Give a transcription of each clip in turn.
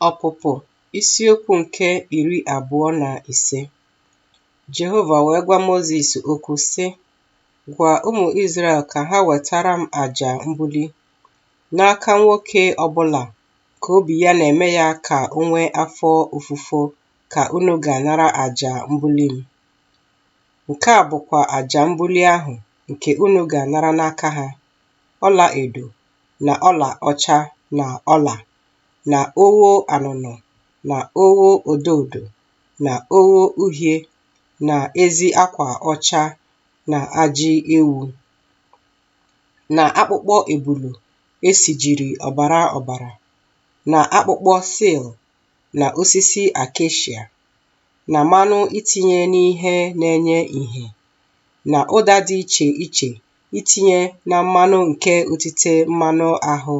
Ọpụpụ isiokwu nke iri abụọ na ise Jehova wee gwa Mozis okwu sị, Gwa ụmụ Izrel ka ha wetara m aja mbuli n'aka nwoke ọbụla ka obi ya na-eme ya ka o nwee afọ ofufo ka unu ga-anara aja mbuli m. Nke a bụkwa aja mbuli ahụ nke unu ga-anara n'aka ha. ọla edo na ọla ọcha na ọla na ogho anụnụ na ogho odo odo na ogho uhie na ezi akwa ọcha na ajị ewu na akpụkpọ ebulu e sijiri ọbara ọbara na akpụkpọ sil na osisi akeshia na mmanụ itinye n'ihe na-enye ìhè na ụda dị iche iche itinye na mmanụ nke otite mmanụ ahụ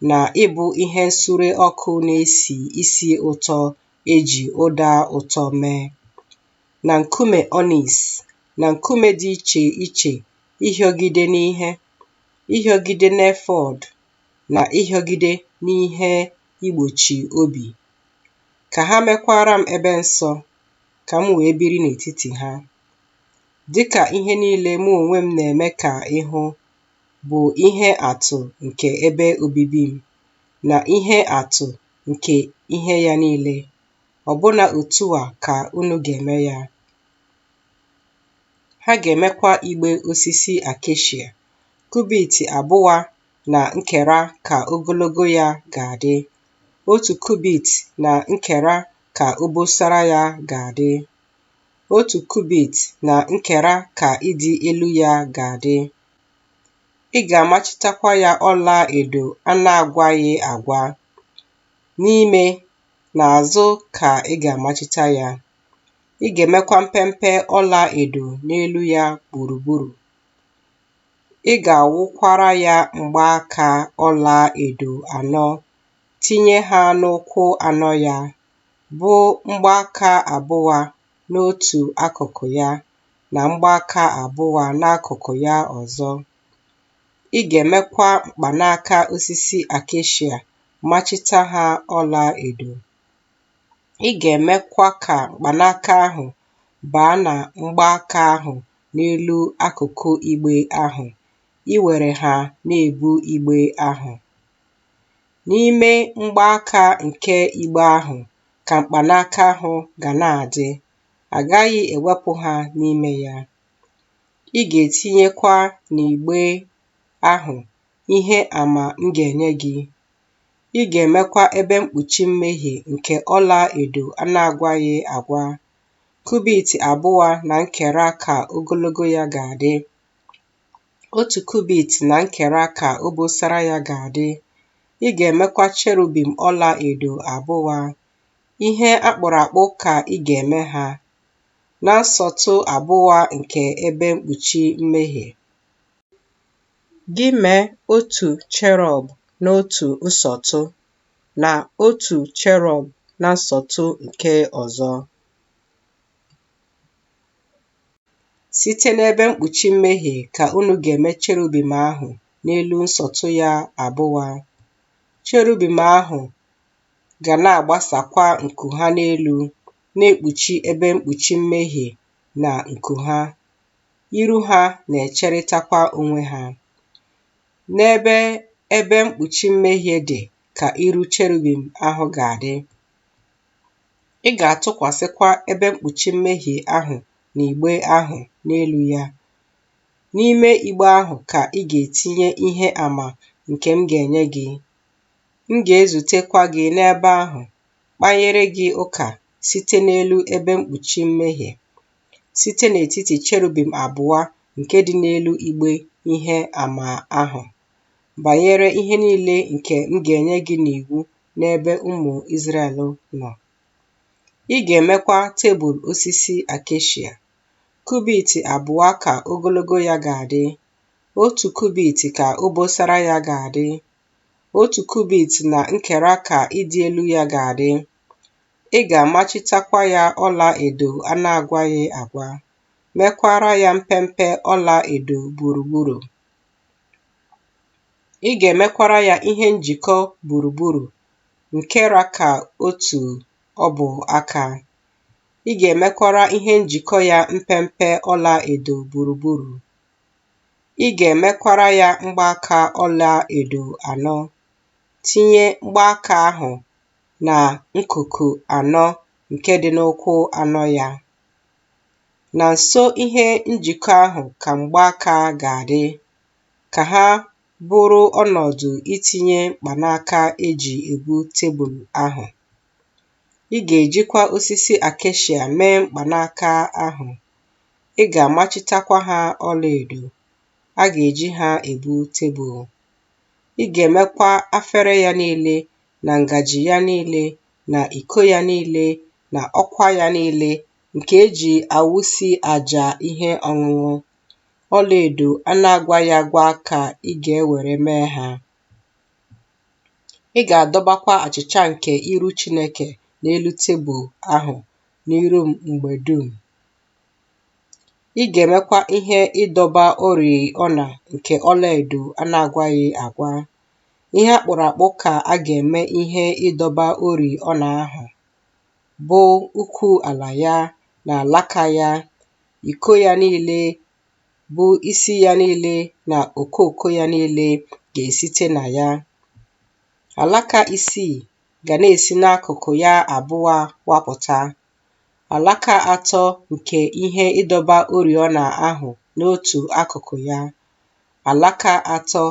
na ịbụ ihe nsure ọkụ na-esi isi ụtọ e ji ụda ụtọ mee, na nkume ọnis, na nkume dị iche iche ịhịọgide n'ihe, ịhịọgide n'efọd, na ịhịọgide n'ihe igbochi obi. Ka ha mekwaara m ebe nsọ, ka m wee biri n'etiti ha. dịka ihe niile mụ onwe m na-eme ka ị hụ bụ ihe atụ nke ebe obibi m na ihe atụ nke ihe ya niile, ọbụna otu a ka unu ga-eme ya. Ha ga-emekwa igbe osisi akeshia, kubit abụa na nkera ka ogologo ya ga-adị, otu kubit na nkera ka obosara ya ga-adị. Otu kubit na nkera ka ịdị elu ya ga-adị. Ị ga-amachitakwa ya ọla edo a na-agwaghị agwa. N'ime na azụ ka ị ga-amachita ya. Ị ga-emekwa mpempe ọla edo n'elu ya gburugburu. Ị ga-awụkwara ya mgbaaka ọla edo anọ, tinye ha n'ụkwụ anọ ya bụ mgbaaka abụa n'otu akụkụ ya na mgbaaka abụa n'akụkụ ya ọzọ. Ị ga-emekwa mkpanaka osisi akeshia machita ha ọla edo. Ị ga-emekwa ka mkpanaka ahụ baa na mgbaaka ahụ n'elu akụkụ igbe ahụ, iwere ha na-ebu igbe ahụ. N'ime mgbaaka nke igbe ahụ ka mkpanaka ahụ ga na-adị, a gaghị ewepụ ha n'ime ya. Ị ga-etinyekwa n'igbe ahụ ihe ama m ga-enye gị. Ị ga-emekwa ebe mkpuchi mmehie nke ọla edo a na-agwaghị agwa, kubit abụwa na nkera ka ogologo ya ga-adị. Otu kubit na nkera ka obosara ya ga-adị. Ị ga-emekwa cherubim ọla edo abụwa. Ihe a kpụrụ akpụ ka ị ga-eme ha na nsọtụ abụwa nke ebe mkpuchi mmehie. Gị mee otu cherọb n'otu nsọtụ, na otu cherọb na nsọtụ nke ọzọ. Site n'ebe mkpuchi mmehie ka unu ga-eme cherubim ahụ n'elu nsọtụ ya abụwa. Cherubim ahụ ga na-agbasakwa nku ha n'elu, na-ekpuchi ebe mkpuchi mmehie na nku ha. Iru ha na-echerịtakwa onwe ha. N'ebe ebe mkpuchi mmehie dị ka iru cherubim ahụ ga-adị. Ị ga-atụkwasịkwa ebe mkpuchi mmehie ahụ na igbe ahụ n'elu ya. N'ime igbe ahụ ka ị ga-etinye ihe ama nke m ga-enye gị. M ga-ezutekwa gị n'ebe ahụ, kpanyere gị ụka site n'elu ebe mkpuchi mmehie, site n'etiti cherubim abụwa nke dị n'elu igbe ihe ama ahụ. banyere ihe niile nke m ga-enye gị n'iwu n'ebe ụmụ Izrel nọ. Ị ga-emekwa tebụl osisi akeshia. Kubit abụwa ka ogologo ya ga-adị, otu kubit ka obosara ya ga-adị, otu kubit na nkera ka ịdị elu ya ga-adị. Ị ga-amachitakwa ya ọla edo a na-agwaghị agwa, mekwara ya mpempe ọla edo gburugburu. Ị ga-emekwara ya ihe njikọ gburugburu nke ra ka otu ọbụ aka. Ị ga-emekwara ihe njikọ ya mpempe ọla edo gburugburu. Ị ga-emekwara ya mgbaaka ọla edo anọ. Tinye mgbaaka ahụ na nkuku anọ nke dị n'ụkwụ anọ ya. Na nso ihe njikọ ahụ ka mgbaaka ga-adị, ka ha bụrụ ọnọdụ itinye mkpanaka e ji ebu tebụl ahụ. Ị ga-ejikwa osisi akeshia mee mkpanaka ahụ, ị ga-amachitakwa ha ọlaedo, a ga-eji ha ebu tebụl. Ị ga-emekwa afere ya niile na ngaji ya niile na iko ya niile na ọkwa ya niile nke e ji awụsi aja ihe ọṅụṅụ, ọlaedo a na-agwaghị agwa ka ị ga-ewere mee ha. Ị ga-adọbakwa achịcha nke iru Chineke n'elu tebụl ahụ n'iru m mgbe dum. Ị ga-emekwa ihe ịdọba oriọna nke ọlaedo a na-agwaghị agwa. Ihe a kpụrụ akpụ ka a ga-eme ihe ịdọba oriọna ahụ. bụ ukwu ala ya na alaka ya, iko ya niile, bụ isi ya niile na okooko ya niile ga-esite na ya. Alaka isii ga na-esi n'akụkụ ya abụa wapụta, alaka atọ nke ihe ịdọba oriọna ahụ n'otu akụkụ ya, alaka atọ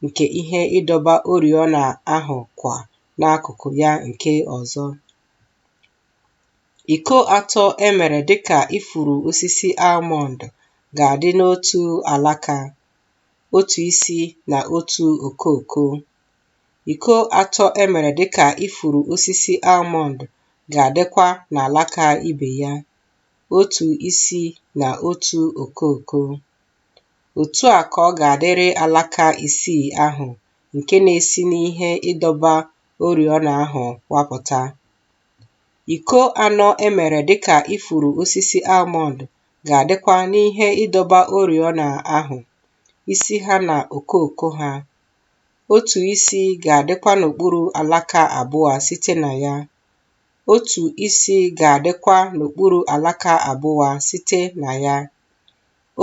nke ihe ịdọba oriọna ahụ kwa n'akụkụ ya nke ọzọ. Iko atọ e mere dị ka ifuru osisi almọnd ga-adị n'otu alaka, otu isi na otu okooko. Iko atọ e mere dị ka ifuru osisi almọnd ga-adịkwa n'alaka ibe ya, otu isi na otu okooko. Otu a ka ọ ga-adịrị alaka isii ahụ nke na-esi n'ihe ịdọba oriọna ahụ wapụta. Iko anọ e mere dịka ifuru osisi almọnd ga-adịkwa n'ihe ịdọba oriọna ahụ, isi ha na okooko ha. Otu isi ga-adịkwa n'okpuru alaka abụa site na ya. Otu isi ga-adịkwa n'okpuru alaka abụa site na ya.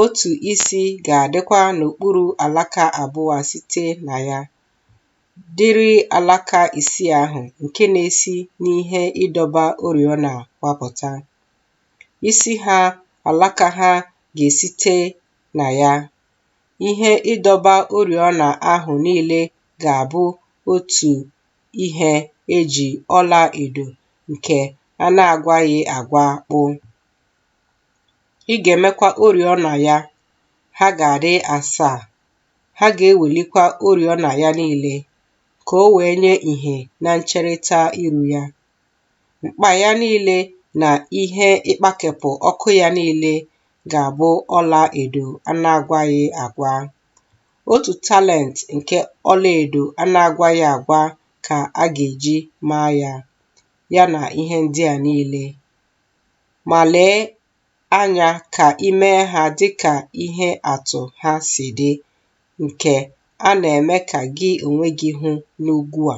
Otu isi ga-adịkwa n'okpuru alaka abụa site na ya, dịrị alaka isii ahụ nke na-esi n'ihe ịdọba oriọna wapụta. Isi ha, alaka ha ga-esite na ya. Ihe ịdọba oriọna ahụ niile ga-abụ otu ihe e ji ọla edo nke a na-agwaghị agwa kpụ. Ị ga-emekwa oriọna ya, ha ga-adị asaa. Ha ga-ewelikwa oriọna ya niile ka o wee nye ìhè na ncherịta iru ya. Mkpa ya niile na ihe ịkpakepụ ọkụ ya niile ga-abụ ọla edo a na-agwaghị agwa. Otu talent nke ọla edo a na-agwaghị agwa ka a ga-eji maa ya, ya na ihe ndị a niile. ma lee anya ka i mee ha dị ka ihe atụ ha si dị, nke a na-eme ka gị onwe gị hụ n'ugwu a.